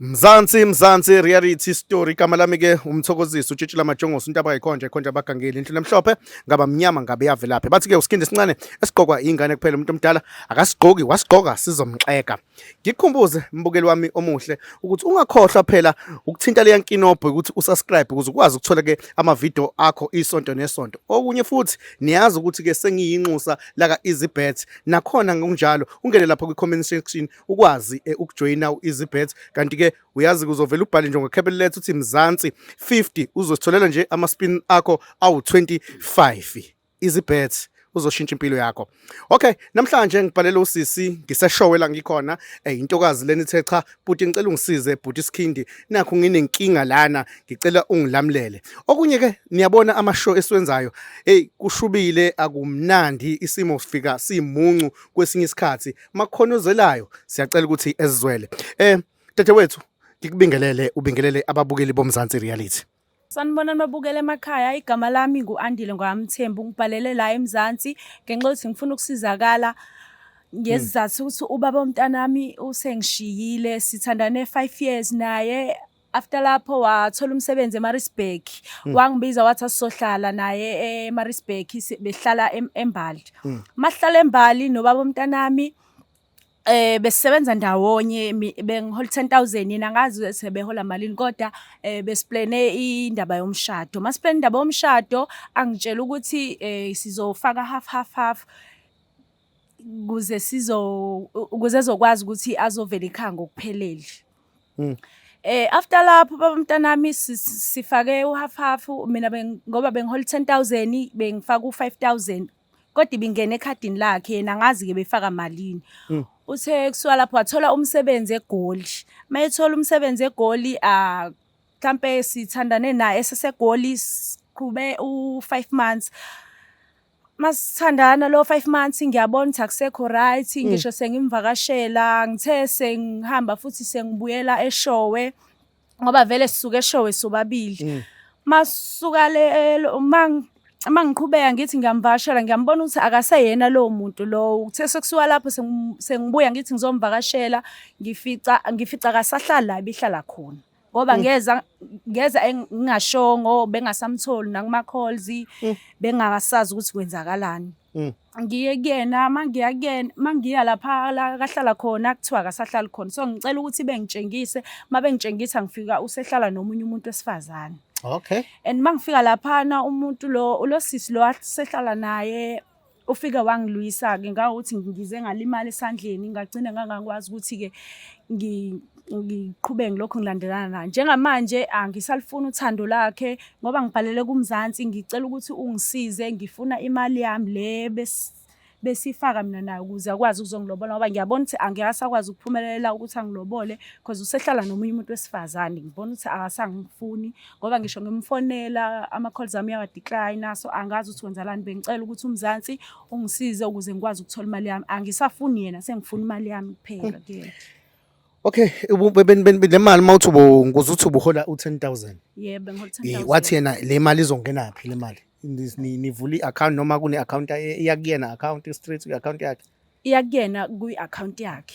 Mzansi Mzansi reality story igama lami ke umthokozisi utshitshi lamajongosi into abayikhonje khonje abagangeli inhlule emhlophe ngaba mnyama ngabe yavelaphi bathi ke usikhindi sincane esigqokwa ingane kuphela umuntu omdala akasigqoki wasigqoka sizomxeka ngikhumbuze mbukeli wami omuhle ukuthi ungakhohlwa phela ukuthinta leya nkinobho ukuthi usubscribe ukuze ukwazi ukuthola ke ama video akho isonto nesonto okunye futhi niyazi ukuthi ke sengiyinxusa laka easy bet nakhona ngokunjalo ungene lapha kwi-comment section ukwazi eh, ukujoyina u-easybet kanti-ke uyazi kuzovela ubhale nje ngokhebele lethu uthi mzansi 50 uzositholela nje ama-spin akho awu-25 easybet uzoshintsha impilo yakho okay namhlanje ngibhalele usisi ngiseshowe la ngikhona eh, intokazi leni ithe cha bhuti ngicela ungisize bhuti Skhindi nakho nginenkinga lana ngicela ungilamlele okunye ke niyabona ama show esiwenzayo hey kushubile akumnandi isimo sifika simuncu kwesinye isikhathi makhonozelayo siyacela ukuthi ezizwele eh dadewethu ngikubingelele ubingelele ababukeli bomzansi reality Sanibonani babukela emakhaya, igama lami ngu-Andile Ngwamthembu, ngibhalele la eMzansi ngenxa yokuthi ngifuna ukusizakala ngezizathu ukuthi ubaba womntanami usengishiyile, sithandane five years naye after lapho wathola umsebenzi eMaritzburg hmm. wangibiza wathi asizohlala naye eMaritzburg behlala eMbali hmm. masihlala eMbali nobaba womntanami Eh besisebenza ndawonye bengihola 10000 yena ngazi sebehola malini kodwa eh besiplane indaba yomshado. Masiplane indaba yomshado angitshela ukuthi eh sizofaka half half half kuze sizo ukuze ezokwazi ukuthi azovela ekhaya ngokuphelele. Mm. Eh after lapho baba mntanami sifake uhalf half mina ngoba bengihola 10000 bengifaka u5000 kodwa ibingena ekhadini lakhe yena angazi ke befaka malini mm. uthe kusuka lapho wathola umsebenzi egoli uma ethola umsebenzi egoli ah, mhlampe sithandane naye esesegoli siqhube u-five months masithandana lo 5 months ngiyabona ukuthi akusekho right mm. ngisho sengimvakashela ngithe sengihamba futhi sengibuyela eshowe ngoba vele sisuke eshowe sobabili mm. masuka le uma uma ngiqhubeka ngithi ngiyamvakashela ngiyambona ukuthi akaseyena lowo muntu lowo kuthe sekusuka lapho sengibuya ngithi ngizomvakashela ngifica ngifica akasahlali la ibihlala khona ngoba mm. ngeza ngeza ngingashongo bengasamtholi nakuma calls mm. bengasazi ukuthi kwenzakalani ngiye kuyena uma ngiya kuyena uma ngiya lapha la kahlala khona kuthiwa akasahlali khona so ngicela ukuthi bengitshengise uma bengitshengisa ngifika usehlala nomunye umuntu wesifazane okay and uma ngifika laphana umuntu lo ulosisi lo asehlala naye ufike wangilwisa-ke ngawukuthi ngize ngalimala esandleni ngagcina ngangakwazi ukuthi-ke ngiqhubeke ngilokhu ngilandelana naye njengamanje angisalifuni uthando lakhe ngoba ngibhalele kumzansi ngicela ukuthi ungisize ngifuna imali yami le besifaka mina naye ukuze akwazi ukuzongilobola ngoba ngiyabona ukuthi angeke asakwazi ukuphumelela ukuthi angilobole because usehlala nomunye umuntu wesifazane ngibona ukuthi akasangifuni ngoba ngisho ngimfonela ama-calls ami uyawadecline so angazi ukuthi wenzelani bengicela ukuthi umzansi ungisize ukuze ngikwazi ukuthola imali yami angisafuni yena sengifuna imali yami kuphela kuyena Okay, le mali uma uthi ubuze uthi ubuhola u-10,000. Yebo, bengihola Eh, 10,000. Wathi yena le mali izongena phi le mali? Nis- ni- Nivula i-account noma kune account e- eya kuyena account straight kwi account yakhe. Iya kuyena kwi-account yakhe.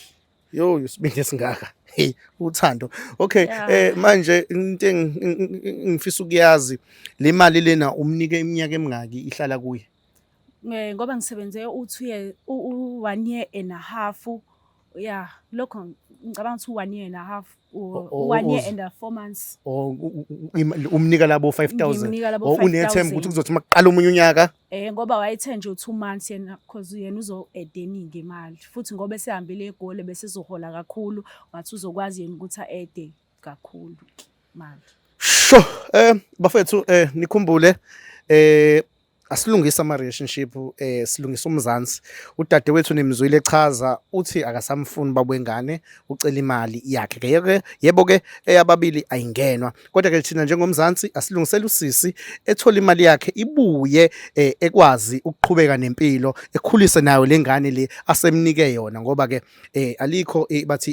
Yo, usibindi esingaka. Hey, uthando. Okay, Yeah. eh manje into engi- engi- engi- engifisa ukuyazi le mali lena umnike iminyaka emingaki ihlala kuye? Eh, Ngoba ngisebenze u-two year, u-one year and a half ya lokho ngicabanga ukuthi one year and a half or O- o- one year uz- and a four months or u- u- u- im- umnika labo 5000 Ngimnika labo or unethemba 5,000. ukuthi kuzothi uma kuqala omunye unyaka eh ngoba wayethe nje u2 months yena because yena uzo edeningi imali futhi ngoba esehambile egole bese ezohola kakhulu ngathi uzokwazi yena ukuthi aede kakhulu manje sho eh bafethu eh nikhumbule eh asilungise ama relationship eh silungisa umzansi udadewethu nimzwile echaza uthi akasamfuni babwengane ucela imali yakhe ke yeke yebo ke eyababili ayingenwa kodwa ke thina njengomzansi asilungisela usisi ethola imali yakhe ibuye eh, ekwazi ukuqhubeka nempilo ekhulise nayo lengane le asemnike yona ngoba ke eh alikho eh, bathi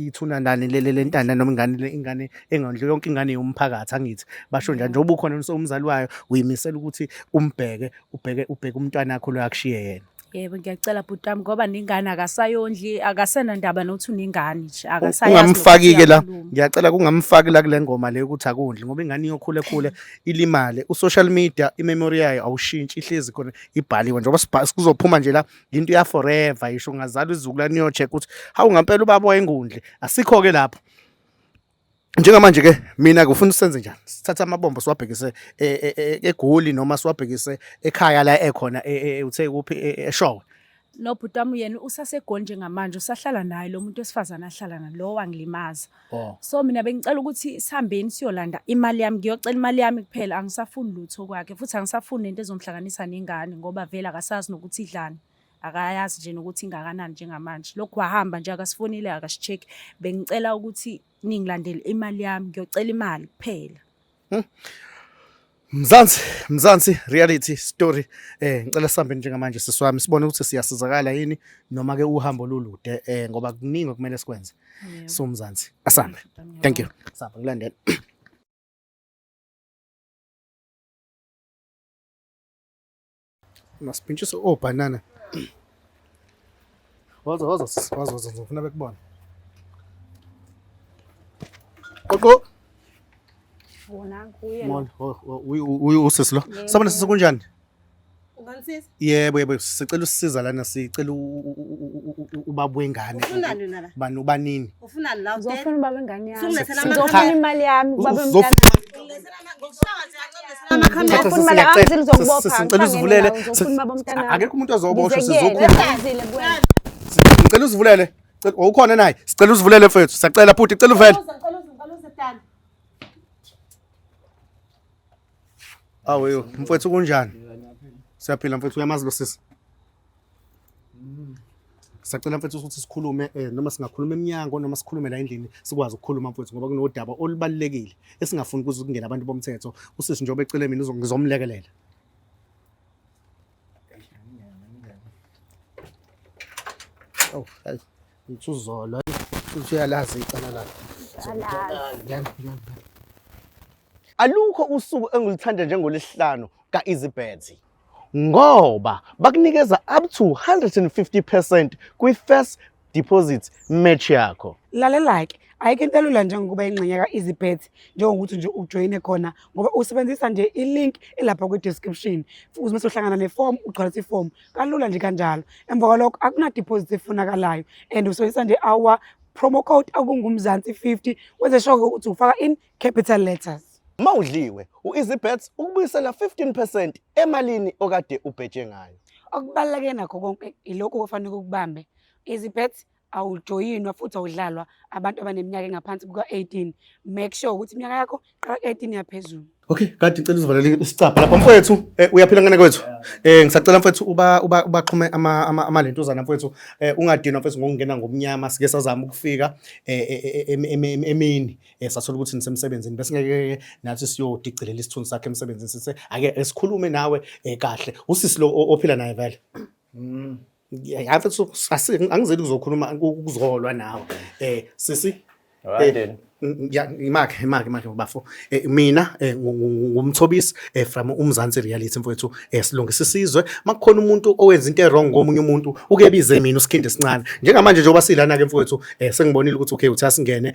ithuna nani lele lentana noma ingane le ingane engondle yonke ingane yomphakathi angithi basho njalo njengoba ukhona umzali wayo uyimisela ukuthi umbheke ubheke ubheke umntwana wakho lo akushiye yena yebo ngiyacela bhuti wami ngoba ningane akasayondli akasena ndaba nokuthi uningane nje akasayazi ungamfaki-ke la ngiyacela kungamfaki la kule ngoma le ukuthi akondli ngoba ingane iyokhule khule ilimale u-social media imemory yayo awushintshi ihlezi khona ibhaliwe njengoba kuzophuma nje la into ya forever isho ngazalwa izukulwane yo check ukuthi hawu ngampela ubaba wayengundle asikho ke lapho njengamanje ke mina ngifuna usenze njani sithatha amabombo siwabhekise e, e, e, egoli noma siwabhekise ekhaya la ekhona uthe kuphi eshowe nobhuti wami yena usasegoli njengamanje usahlala naye lo muntu wesifazane ahlala nalowo angilimaza Oh. So mina bengicela ukuthi sihambeni siyolanda imali yami ngiyocela imali yami kuphela angisafuni lutho kwakhe futhi angisafuni into ezomhlanganisa nengane ngoba vele akasazi nokuthi idlani akayazi nje nokuthi ingakanani njengamanje lokhu wahamba nje akasifonile akasicheck bengicela ukuthi ningilandele imali yami ngiyocela imali kuphela Hmm? Mzansi, Mzansi reality story. Eh ngicela sihambe njengamanje sisi wami sibone ukuthi siyasizakala yini noma ke uhambo lolude eh ngoba kuningi okumele sikwenze. So Mzansi, asambe. Thank you. Sambe ngilandela. Masipintshise obhanana. Woza woza sisi woza woza ngifuna bekubona. Qoqo. Wona kuye. Mol, uyu usisi lo. Sabona sisi kunjani? Unganisiza? Yebo yebo sicela usisiza lana sicela ubaba wengane. Ufunani nala? Bani ubanini? Ufunani la? Uzofuna ubaba wengane yami. Uzofuna imali yami ubaba wengane. Sicela uzivulele. Akekho umuntu ozoboshwa sizokhuluma. Ngicela uzivulele. Ukhona naye. Sicela uzivulele mfethu. Sacela bhuti, cela uvele. Awu mfethu kunjani? Siyaphila mfethu uyamazi lo sisi. sacela mfethu ukuthi sikhulume eh, noma singakhuluma emnyango noma sikhulume la endlini sikwazi ukukhuluma mfethu ngoba kunodaba olubalulekile esingafuni kuze kungena abantu bomthetho usisi njengoba ecele mina ngizomlekelela Oh, hayi. Ngithuzolo. Futhi uyalazi icala lakhe. Alukho usuku engilithanda njengolesihlanu ka-Izibhedzi. ngoba bakunikeza up to 150 percent kwi-first deposit match yakho lalelake ayike into elula njengokuba ingxenye ka-easybet njengokuthi nje ujoyine khona ngoba usebenzisa nje ilink elapha kwi-description futhi mese uhlangana nefomu ugcwalisa ifomu kalula nje kanjalo emva kwalokho akunadiposit efunakalayo and usebenzisa nje our promo code okungumzansi 50 wenze sure ukuthi ufaka in capital letters. Uma udliwe, u-EasyBets ukubuyisela 15 percent emalini okade ubheje ngayo. Okubaluleke nakho konke ilokhu okufanele ukubambe. EasyBets awujoyinwa futhi awudlalwa abantu abaneminyaka engaphansi kuka-18. Make sure ukuthi iminyaka yakho qala 18 yaphezulu. Okay, kanti ngicela uzivalele isicabha lapha mfowethu. Eh, uyaphila ngane kwethu. Eh, ngisacela mfowethu uba uba ubaqhume ama ama, ama lentuzana mfowethu. Eh, ungadinwa mfowethu ngokungena ngomnyama sike sazama ukufika eh, eh, eh, eh emini. eh, sathola ukuthi nisemsebenzini besingeke nathi siyodicilela isithunzi sakhe emsebenzini sithe ake esikhulume nawe eh, kahle usisi lo o- ophila naye vele Mm. yafe angizeli kuzokhuluma ukuzolwa nawe eh sisi Alright then. Mm, ya imakhe imakhe imakhe bafo Eh, mina eh, ngu- ngu- ngu- ngumthobisi eh, from umzansi reality mfowethu eh, silungisa isizwe makukhona umuntu owenza into ewrong komunye umuntu ukebize mina usikhindi esincane njengamanje njengoba silana ke mfowethu eh, sengibonile ukuthi okay uthi asingene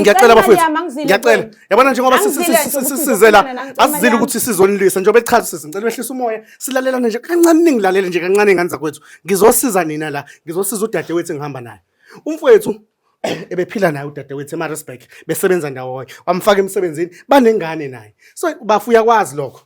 ngiyacela abafowethu ngiyacela yabona njengoba sisizela asizile ukuthi sizonilwisa njengoba echaza sisi ngicela behlisa umoya silalelane nje kancane ningilalele nje kancane ingane zakwethu ngizosiza nina la ngizosiza udade wethu engihamba naye umfowethu ebephila naye udade wethu emarisburg besebenza ndawonye wamfaka emsebenzini banengane naye so bafuya kwazi lokho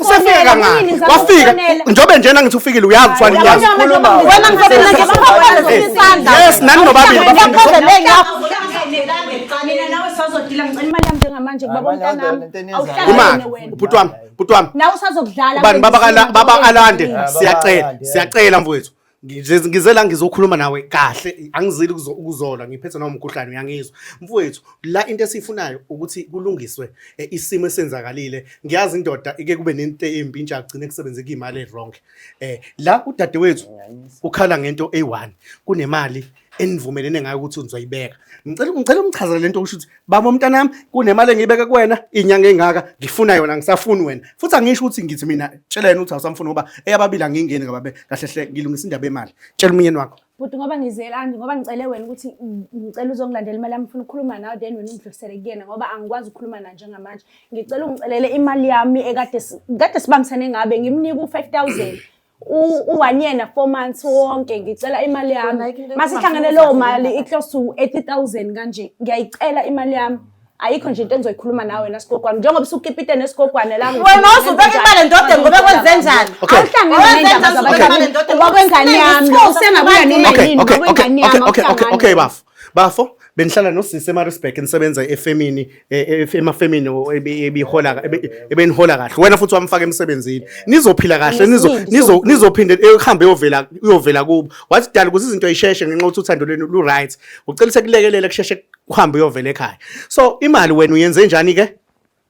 usefike kangani wafika njengobe njena ngithi ufikile uyazi kuthwala inyanga yes nani nobabili umake ubhuti wami ubhuti wami ubani baba alande siyacela siyacela mfowethu Ngize ngize la ngizokhuluma nawe kahle angizili ukuzo- ukuzolwa ngiphethe nawo umkhuhlane uyangizwa mfowethu la into esiyifunayo ukuthi kulungiswe eh, isimo esenzakalile ngiyazi indoda ike kube nento embi intsha agcine kusebenze kuyimali e-wrong eh la udadewethu ukhala ngento eyi-one kunemali enivumelene ngayo ukuthi nizoyibeka ngicela ngicela umchazele lento okusho ukuthi baba umntanami kunemali engiyibeke kuwena inyanga engaka ngifuna yona ngisafuni wena futhi angisho ukuthi ngithi mina tshela yena ukuthi awusamfuni ngoba eyababili angingeni ngababe kahle hle ngilungisa indaba yemali tshela umyeni wakho bhuti ngoba ngizelani ngoba ngicele wena ukuthi ngicela uzongilandela imali yami ngifuna ukukhuluma nawe then wena ungidlulisele kuyena ngoba angikwazi ukukhuluma naye njengamanje ngicela ungicelele imali yami ekade kade sibambisene ngabe ngimnika u-five thousand uwanyena four months wonke ngicela imali yami masihlangane leyo mali i-close to 80000 kanje ngiyayicela imali yami ayikho nje into engizoyikhuluma nawe wena sigogwana njengoba usukipite nesigogwana la wena uzubeka imali ndoda ngobe kwenze njani awuhlangene nendaba zabantu ngoba kwengane yami usengabuya nini ngoba kwengane yami okay okay okay okay bafo bafo bengihlala nosisi eMaritzburg nisebenza efemini e, e, emafemini ebihola ebenihola kahle wena futhi wamfaka emsebenzini nizophila kahle nizo nizophinde ehambe yovela uyovela kubo wathi dala ukuthi izinto yisheshe ngenxa ukuthi uthando lwenu lu right ucela sekulekelela kusheshe kuhambe uyovela ekhaya so imali wena uyenze njani ke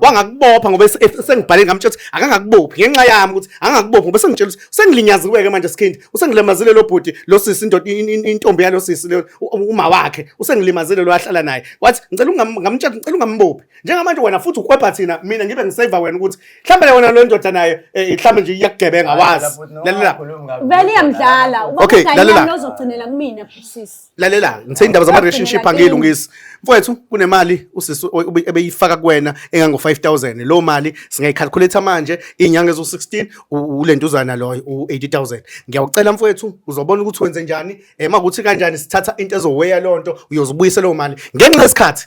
wangakubopha ngoba sengibhale ngamtshela ukuthi akangakubophi ngenxa yami ukuthi angakubophi ngoba sengitshela ukuthi sengilinyaziweke manje skhindi usengilimazile lo bhuti lo sisi indoda intombi yalo sisi le uma wakhe usengilimazile lo ahlala naye wathi ngicela ungamtshela ngicela ungambophi njengamanje wena futhi ukwepha thina mina ngibe ngiseva wena ukuthi mhlawumbe le wena lo ndoda naye eh, mhlawumbe nje iyakugebenga wazi lalela vele iyamdlala uba okay, lalela uzogcinela kumina sisi lalela ngithe indaba zama relationship angiyilungisi mfowethu kunemali usisi ebeyifaka kuwena engango 5000 lo mali singayicalculate manje inyanga ezo 16 ulentuzana loyo u 80000 ngiyawucela mfowethu uzobona ukuthi wenze njani ema eh, kuthi kanjani sithatha into ezoweya lonto uyozibuyisa lo mali ngenxa yesikhathi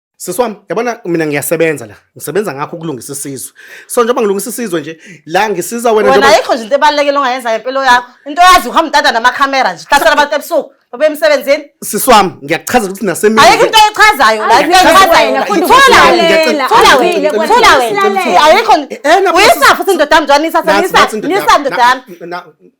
Sisi wami, yabona mina ngiyasebenza la. Ngisebenza ngakho ukulungisa isizwe. So njengoba ngilungisa isizwe nje, la ngisiza wena Wena ayikho nje into ebalulekile ongayenza ngempilo yakho. Into yazi uhamba untanda namakhamera nje. Hlasela abantu ebusuku. Babe emsebenzini. Sisi wami, ngiyakuchaza ukuthi nasemini. Ayikho into echazayo la. Into echazayo. la. Funda Thola ukulalela. wena. Thola Funda wena. ukulalela. Thola wena. Silalele. Ayikho. Eh, na- Uyisa futhi indoda yami njani isa Nathi, senisa. nathi, ndoda Nisa yami. ndoda yami. Na- na-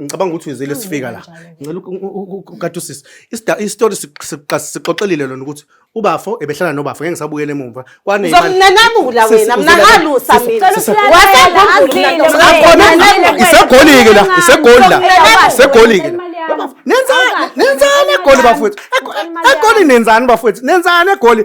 ngicabanga ukuthi uyizile sifika la ngicela ukukade usisi isitori sixoxelile lona ukuthi ubafo ebehlala nobafo ngeke ngisabuyele emuva kwane ngizomnanabula wena mnakalusa mina isegolike la isegoli la isegolike la nenzani nenzani egoli bafowethu egoli nenzani bafowethu nenzani egoli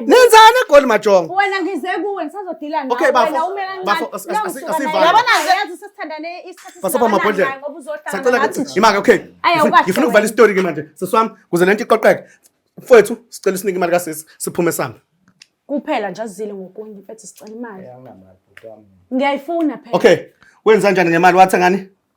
nenzani egoli majongo wena ngize kuwe ngisazodila nawe okay, wena umela ncanibasopha amabhodlela sacela imake okay ngifuna ukuvala isitori ke manje sisi wami kuze le nto iqoqeke mfowethu sicela usinike imali kasisi siphume sambe kuphela nje azile ngokunye mfethu sicela imali ngiyayifuna phela okay wenza njani ngemali wathi ngani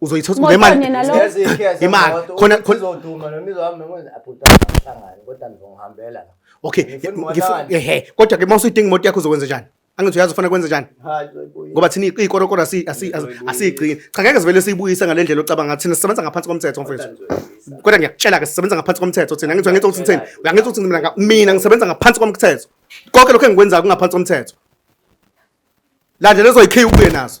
uzoyithola Moto ngemali nina lo- Yazi ikhiya imali semoto, khona ukuthi khona izoduma noma izohamba ngenze abhuti angahlangani kodwa ngizongihambela la. okay Ngifuna ngifuna umonakalo. ehe kodwa ke mawuse idinga imoto yakho uzokwenza njani angithi uyazi ufuna kwenza njani Hayi, uzoyibuya. ngoba thina ikorokoro asi- asi- asi- asiyigcini cha ngeke sivele siyibuyise ngale ndlela ocabanga ngathi thina sisebenza ngaphansi komthetho Kodwa mfethu ngizoyibuyisa. kodwa ngiyakutshela ke sisebenza ngaphansi komthetho thina angithi uyangithi ukuthi ngithini uyangithi ukuthi mina nga- mina ngisebenza ngaphansi komthetho konke lokho engikwenzayo kungaphansi komthetho landlela ezoyikhiya ubuye nazo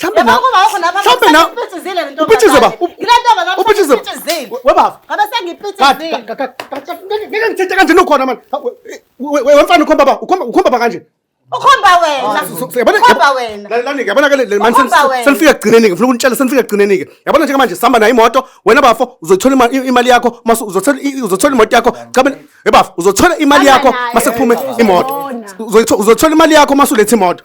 Mhlambe na Mhlambe na uphithizile lento. Uphithizile ba. Ngilento ba lapho uphithizile. Webaba. Ngabe sengiphithizile. Ngeke ngithethe kanje nokhona manje. Wemfana ukhomba ba. Ukhomba ukhomba ba kanje. Ukhomba wena. Ukhomba wena. Lalani yabona ke le manje senifika kugcineni ke ngifuna ukunitshela senifika kugcineni ke. Yabona nje manje sihamba nayo imoto wena bafo uzothola imali yakho mase uzothola uzothola imoto yakho cha mina ebafo uzothola imali yakho mase kuphume imoto. Uzothola imali yakho mase ulethe imoto.